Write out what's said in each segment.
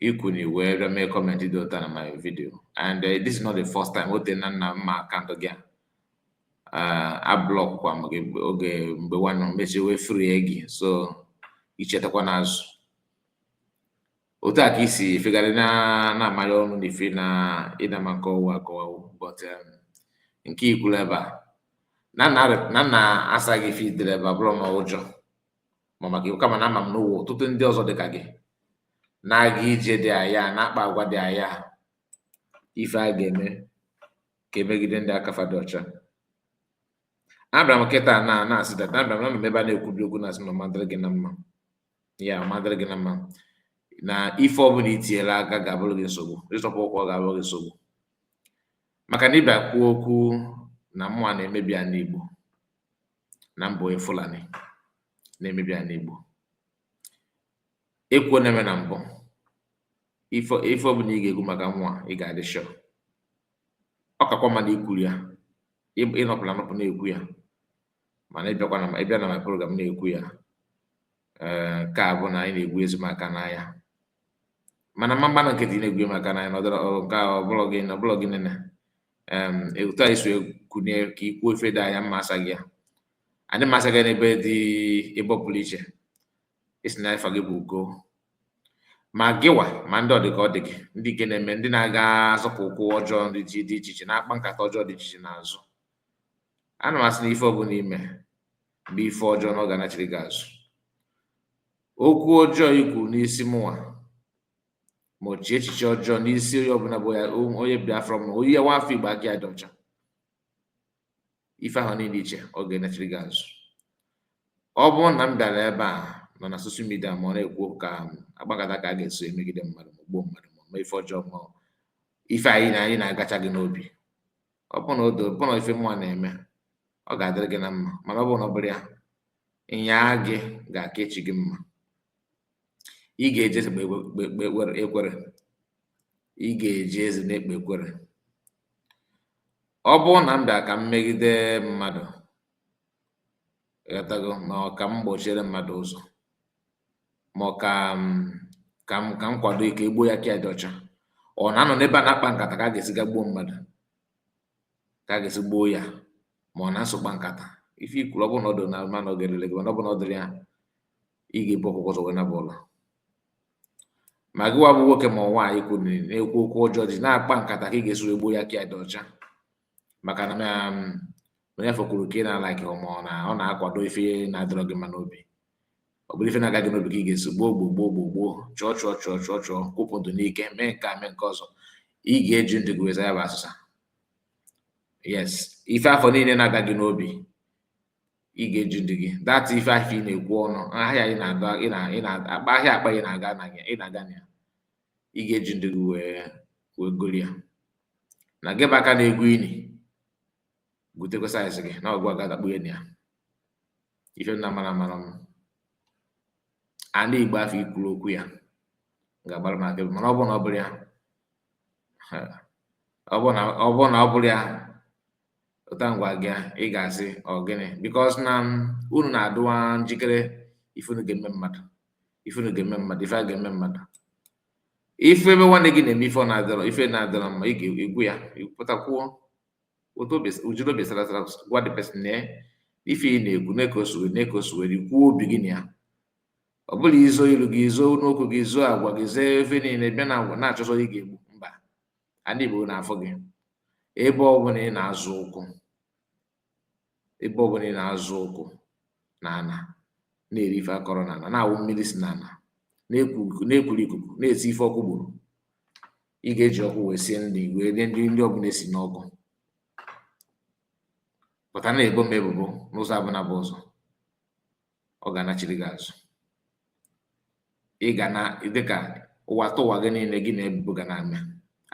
I kunie wee bịa mee kọmentị dị otu a na my video and uh, this is not the first time o teena m ma akaụntụ gị a uh, ablọkwa m gị oge mgbe nwanne m mechaa wee free gị so ichetakwa n'azụ otu a ka i si efegharị na na-amanye ọnụ na ife na ịdama nke ọwụ akọwawo but um, nke ikwuru ebe a na m na-asa gị ife i dere ebe a abụrọ ma ụjọ ma maka iwu kama na ama m na o nwe ọtụtụ ndị ọzọ dị ka gị na-aga ije dị aya na-akpa agwa dị aya ife a ga-eme ka emegide ndị aka fa dị ọcha abịara m kịta na na-asị dat abịara m n'ebe a na-ekwubi okwu na-asị na ọ ma-adịrị gị na mma ya ma-adịrị gị na mma na ife ọbụla itinyela aka ga-abụrụ gị nsogbu ịzọpụ ụkwụ ọ ga-abụrụ gị nsogbu maka na ịbịa kwuo okwu na mụnwa na-emebi ala Igbo na m bụ onye Fulani na-emebi ala Igbo ekwuo na-eme na m bụ ife ife ọ bụla ị ga-ekwu maka mụnwa ị ga-adị sure ọ kakwa mma na ikwuru ya ị- ịnọpụla anọpụ na-ekwu ya mana ịbịakwa na ịbịa na my program na-ekwu ya ee nke a bụ na ị na-egwuzi m aka n'anya mana m ma-agba nkịtị ị na-egwu m aka n'anya na ọ dịrọ ọ- nke a ọ bụlọ gị na ọbụlọ gị nene um otu i si wee kunie ka i kwuo ife dị aya m ma-asa gị ya anyị ma-asa gị n'ebe dị ebe ọ pụrụ iche ị sị na afa gị bụ Ugo ma gịwa ma ndị ọ dị ka ọ dị gị ndị nke na-eme ndị na-aga azọpụ ụkwụ ọjọọ dị iche iche na-akpa nkata ọjọọ dị iche iche n'azụ ana m asị na ife ọbụla i me bụ ife ọjọọ na ọ ga-anachiri gị azụ okwu ọjọọ i kwu n'isi mụnwa ma i chee echiche ọjọọ n'isi onye ọbụla bụ ya o- onye biafra ma onye nwa afọ igbo aka ya dị ọcha ife ahụ niile i che ọ ga-anachiri gị azụ ọ bụrụ na m bịara ebe a nọ na soshal midia ma ọ na-ekwu ka m kpaa nkata ka a ga-esi emegide mmadụ ma gbuo mmadụ ma mee ife ọjọọ ma ife anyị na anyị na-agacha gị n'obi ọ bụrụ na o doo ọ bụrụ na ife mụnwa na-eme ọ ga-adịrị gị na mma mana ọ bụrụ na ọ bụrọ ya ịnyaa gị ga-aka echi gị mma ị ga-eji eze ekpe ekwere ị ga-eji eze na-ekpe ekwere ọ bụrụ na m bịa ka m megide mmadụ ghọtago ma ọ ka m gbochiere mmadụ ụzọ ma ọ ka ka m ka m kwado ka e gbuo onye aka ya dị ọcha or na-anọ n'ebe a na-akpa nkata ka a ga-esi ga gbuo mmadụ ka a ga-esi gbuo ya ma ọ na-eso akpa nkata ife ikwuru ọ bụrụ na ọ dị na ma na ọ ga-elele gị mana ọ bụ na ọ dịrọ ya ị ga-ebu ọkụkọ ụzọ wee naba ụla ma gị wa bụ nwoke ma ọ nwaanyị kunie na-ekwu okwu ọjọọ ji na-akpa nkata ka ị ga-esi wee gbuo onye aka ya dị ọcha maka na um, ife o kwuru ka ị na-alikerọ ma ọ na- ọ na-akwado ife na-adịrọ gị mma n'obi ọ bụrụ ife na-aga gị n'obi ka ị ga-esi gbuo gbuo gbuo gbuo gbuo chụọ chụọ chụọ chụọ chụọ kwụpụ ndụ n'ike mee nke a mee nke ọzọ ị ga-eji ndụ gị wee zaa ya bụ asụsa yes ife afụ niile na-aga gị n'obi ị ga-eji ndụ gị that ife afụ ị na-ekwu ọnụ ahịa ị na-aga ị na-akpa ahịa akpa ị na-aga na ya ị na-aga na ya ị ga-eji ndụ gị wee wee goro ya na gị bụ aka na-egwu ini gwutekwa size gị na ọ gịwa ga-adakpu ya na ya ife nna mara mara m ana igbo afụ i kwuru okwu ya ga-agbara m akaebe mana ọ bụrụ na ọ bụrọ ya ọ bụrụ na ọ bụrọ ya ụta ngwa gị ị ga-asị ọ gịnị because na unu na-adịwa njikere ife unu ga-eme mmadụ ife unu ga-eme mmadụ ife a ga-eme mmadụ ị fụ ebe nwanne gị na-eme ife na-adịrọ ife na-adịrọ mma ị ga-ekwu ya pụta kwuo jiri obi sara asara gwa the person na ife ị na-ekwu nee ka o siri nee ka o siri kwuo obi gị na ya ọ bụrọ izo ilu gị izo n'okwu gị izo agwa gị zoo ife niile bịa na agwa na-achọ ụzọ ị ga-egbu mmadụ Igbo na-afụ gị ebe ọ bụ na ị na-azọ ụkwụ ebe ọ bụ na ị na-azọ ụkwụ n'ana na-eri ife a kọrọ n'ana na-aṅụ mmiri si n'ana na-ekuru ikuku na-esi ife ọkụ gburu ị ga-eji ọkụ wee sie nri wee rie nri ọ bụ na i si n'ọkụ pụta na-ebo m ebubo n'ụzọ ọbụla bụ ụzọ ọ ga-anachiri gị azụ ị ga na dịka ụwa tụwa gị niile gị na ebubo ga na-eme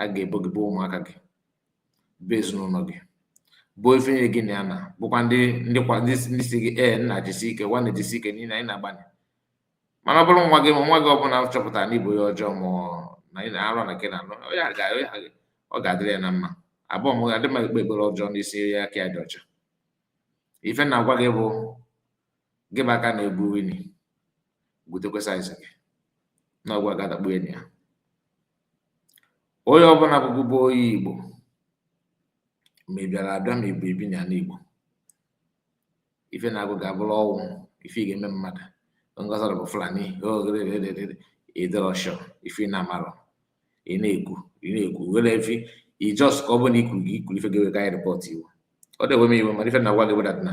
a ga-ebo gị boo ụmụaka gị boo ezinụlọ gị boo ife niile gị na ya na bookwa ndị ndị kwa ndị ndị sị gị ee nna jisi ike nwanne jisi ike niile ị na-agbalị mana ọ bụrụ nwa gị ma nwa gị ọbụla chọpụtara na ị bụ onye ọjọọ ma na ị na-arụ na nke na-anụ ọ ga-adịrị ya na mma abụọ m adị m ekpe ekpere ọjọọ n'isi ya aka ya dị ọcha ife m na-agwa gị bụ gị bụ aka na-egwu ini gwutekwa size gị na ọ gịwa ga-adakpu na ya onye ọbụla bụ bụ onye igbo ma ị bịara abịa ma i bu ebi n'ana igbo ife na-agụ gị abụrụ ọnwụ ife ị ga-eme mmadụ ngọzọrọ bụ fulani ị dịrọ sure ife ị na-amarọ ị na-ekwu ị na-ekwu were efi i just ka ọ bụrụ na ikwu gị i kwuru ife ga-eme ka anyị report you ọ dị ewe m iwe mana ife m na-agwa gị wụ that na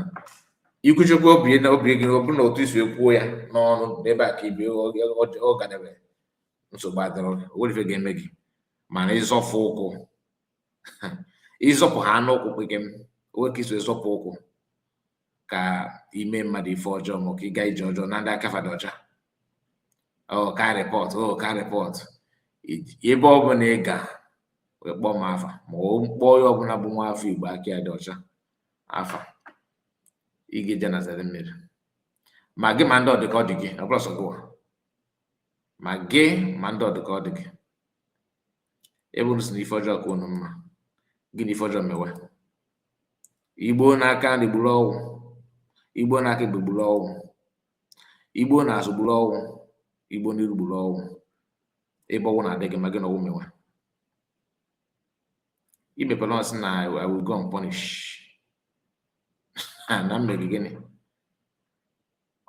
ikwuchekwa obi na obi gị ọ bụrụ na otu i si ekwu ya n'ọnụ n'ebe a ka ibi ọ gadebe nsogbu adịrọ o nwerọ ife ga-eme gị mana ị zọfụ ụkwụ ịzọpụ ha anụ ụkwụ gị o nwee ka i si zọpụ ụkwụ ka i mee mmadụ ife ọjọọ ma ka ị gaa ije ọjọọ na ndị aka fa dị ọcha ka repọt ka repọt ebe ọ bụla ị ga wee kpọọ m afa ma ọ kpọọ onye ọbụla bụ nwa afọ igbo aka ya dị ọcha afa ị ga-eje na zere mmiri ma gị ma ndị ọ dị ka ọ dị gị ọ bụrọ sọ gịwa ma gị ma ndị ọ dị ka ọ dị gị ebe unu sị na ife ọjọọ ka unu mma gị na ife ọjọọ mewe igbo n'aka nri gburu ọgwụ igbo n'aka ekpe gburu ọgwụ igbo n'azụ gburu ọgwụ igbo n'iru gburu ọgwụ ebe ọgwụ na-adị gị mma gị na ọgwụ mewe imepere ọsị na i will go unpunished na mmeri gịnị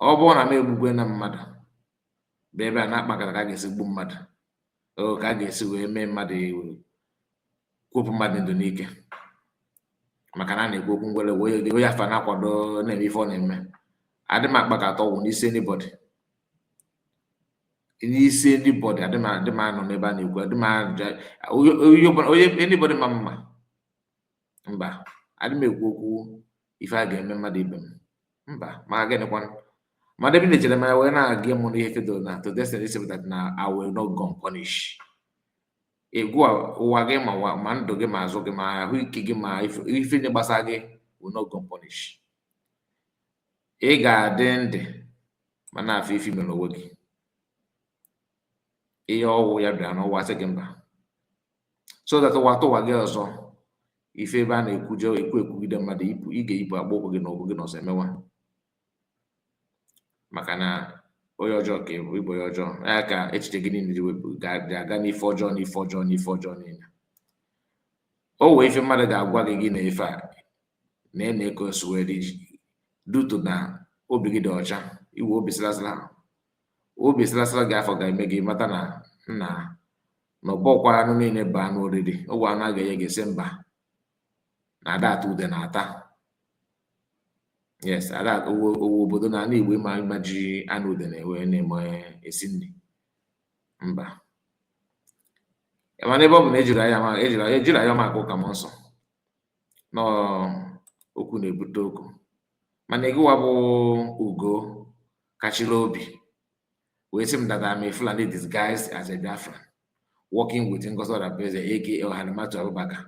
ọ bụrụ na m egbugwe na mmadụ bụ ebe a na-akpakọta ka a ga-esi gbuo mmadụ o ka a ga-esi wee mee mmadụ kwopụ mmadụ ndụ n'ike maka na a na-ekwu okwu ngwere wee onye afa na-akwado na-eme ife ọ na-eme adị m akpa ka a tọọ ọgwụ n'isi anybody n'isi anybody adị m adị m anọ n'ebe a na-ekwu adị m onye anybody ma mma mba adị m ekwu okwu ife a ga-eme mmadụ ibe m mba ma gịnịkwanụ ma debe na-echere m ya wee na-aga mụ n'ihe fedo na to destiny sepụta na I will not go unpunished egwu ụwa gị ma ma ndụ gị ma azụ gị ma ahụ ike gị ma ife niile gbasara gị will not go unpunished ị ga-adị ndụ ma na-afụ ife i mere onwe gị ihe ọwụla bịara n'ụwa sị gị mba so that ụwa tụwa gị ọzọ ị fụ ebe a na-ekwuje ekwu ekwugide mmadụ ipụ ị ga-eyipụ akpụ ụkwụ gị na ụkwụ gị na ọsọ emewa maka na onye ọjọọ ka ị bụ ị bụ onye ọjọọ ya ka echiche gị niile ji wee na-aga n'ife ọjọọ n'ife ọjọọ n'ife ọjọọ niile o nwee ife mmadụ ga-agwa gị gị na ife a na ị na-eko nsụwere iji due to na obi gị dị ọcha iwe obi sịlasịla obi sịlasịla gị afọ ga-eme gị mata na nna na ọ bụrọkwa anụ niile bụ anụ oriri o nwee anụ a ga-enye gị sị mba na a da ata udene ata yes a da o nwerọ obodo na ala igbo ị ma ị ma ji anụ udene wee na-eme esi nri mba mana ebe ọ bụ na ejiri anya ejiri anya ejiri anya maka ụka m nsọ n'okwu na-ebute okwu mana gịwa bụ ugo kachiri obi wee sị m that I'm a Fulani disguised as a Biafran working with Ngozi Orabueze aka Halimatu Abubakar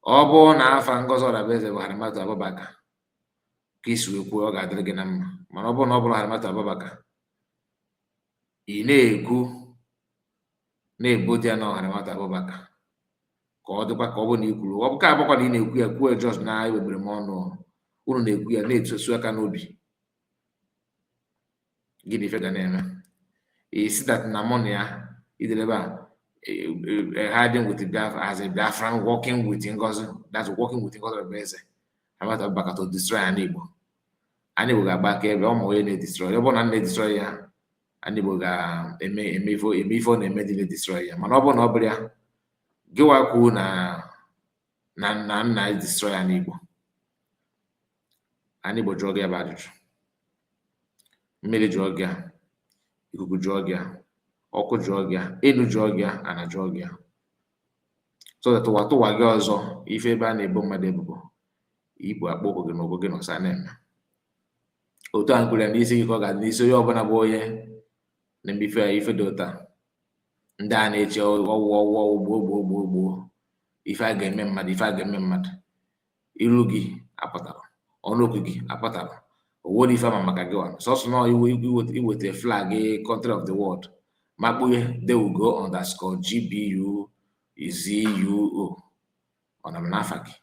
ọ bụrụ na afa Ngozi Orabueze bụ Halimatu Abubakar ka i si wee kwuo ọ ga-adịrị gị na mma mana ọ bụrụ na ọ bụrọ Halimatu Abubakar ị na-ekwu na-ebo dị ya na Halimatu Abubakar ka ọ dịkwa ka ọ bụrụ na i kwuru ọ bụ ka abụkwa na ị na-ekwu ya kwuo just na ewegbere m ọnụ unu na-ekwu ya na-etusu aka n'obi gịnị ife ga na-eme ị sị that na mụ na ya idelebe a hiding with Biafra as a Biafran working with Ngozi that's working with Ngozi Orabueze Halimatu Abubakar to destroy anị Igbo anị Igbo ga-agba akaebe ọ ma onye na-edestroy ọ bụrụ na na-edestroy ya anị Igbo ga-eme eme ife eme ife ọ na-eme ndị na-edestroy ya mana ọ bụrụ na ọ bụrọ ya gịwa kwuo na na m na m na-edestroy anị Igbo anị Igbo jụọ gị ya bụ ajụjụ mmiri jụọ gị a ikuku jụọ gị a ọkụ jụọ gị a elu jụọ gị a ana jụọ gị a so that ụwatụwa gị ọzọ ị fụ ebe a na-ebo mmadụ ebubo ibu akpọ ụkwụ gị na ụkwụ gị na ọsọ na-eme otu a m kwuru n'isi gị ka ọ ga-adị n'isi onye ọbụla bụ onye na-eme ife dị otu a ndị a na-eche ọwụ ọwụ ọwụ gboo gboo gboo gboo ife a ga-eme mmadụ ife a ga-eme mmadụ iru gị apụtarọ ọnụ okwu gị apụtarọ o nwerọ ife a ma maka gịwa sọsọ na i weta flag country of the world makpughe they will go underscore gbu zuo ọ na m n'afa gị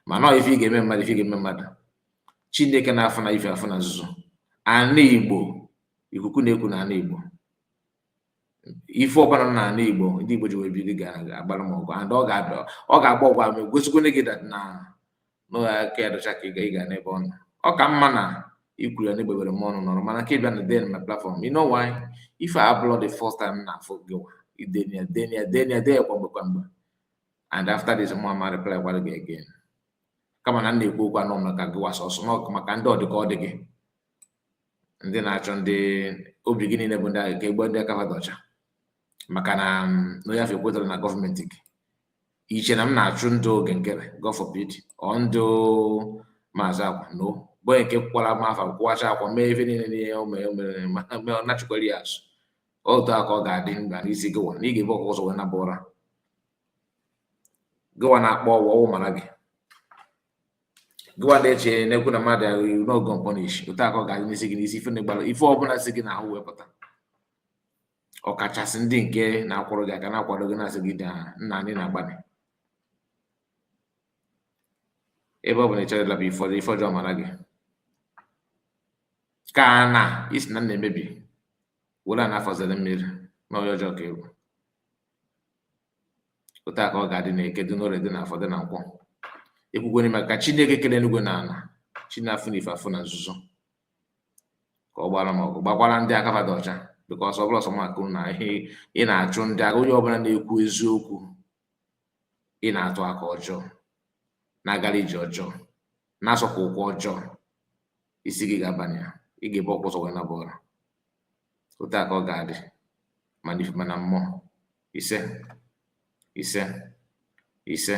mana ọ ife ị ga-eme mmadụ ife ị ga-eme mmadụ chineke na-afụ na ife afụ na nzuzo ana igbo ikuku na-eku na ana igbo ife ọbụla nọ n'ala igbo ndị igbo ji wee biri ga-agbara m ọgụ and ọ ga-abịa ọ ga-agba ọgụ a ma egosikwene gị na na aka ya dị ọcha ka ị ga n'ebe ọ nọ ọ ka mma na i kwuru ya na egbebere m ọnụ nọrọ mana nke ị bịa na-ede na platform you know why ife a abụlọ the first time na-afụ gị nwa idenia denia denia denia kwa mgbe kwa mgbe and after this mụ ama reply gwara gị again kama na m na-ekwu okwu anọ maka gịwa sọsọ na ọ bụ maka ndị ọ dị ka ọ dị gị ndị na-achọ ndị obi gị niile bụ ndị agha ka egbu ndị aka fa dị ọcha maka na mm, onye afụ ekwetarọ na gọọmenti gị i che na m na-achụ ndị Oge Nkere God forbid or ndị maazị akwa no bụ nke kwụkwara m afa kwụwacha akwa mee ife niile n'ihe o mere mere mee ọ nachikwara ya azụ otu a ka ọ ga-adị mba n'isi gịwa na ị ga-ebu ọkụkọ ụzọ wee naba ụra gịwa na-akpọ ọwa ọwụ mara gị gịwa na-eche na-ekwu na amadịọha no go punish otu a ka ọ ga-adị n'isi gị n'isi ife na-egbara ife ọbụla si gị n'ahụ wepụta ọkachasị ndị nke na-akụrụ gị aka na-akwado gị na-asị gị daa nna anyị na-agbanị ebe ọ bụ na ị chọrọ ịlaba ife ọjọọ mara gị ka na isi na na-emebi were na afọzere mmiri na ọya ọjọọ ka egwu otu a ka ọ ga-adị na eke dị n'orie dị n'afọ dị na nkwọ ekwukwere m ka chineke kere eluigwe na ala chi na-afụ na ife afụ na nzuzo ka ọ gbara m ọgụ gbakwara ndị aka fa dị ọcha because ọ bụrọ sọ m ka ị na-achụ ndị agha onye ọbụla na-ekwu eziokwu ị na-atụ aka ọjọọ na-agara ije ọjọọ na-asọkwa ụkwụ ọjọọ isi gị ga-abanye ya ị ga-ebu ọkụkọ ụzọ wee naba ụra otu a ka ọ ga-adị ma n'ife ma na mmụọ ise ise ise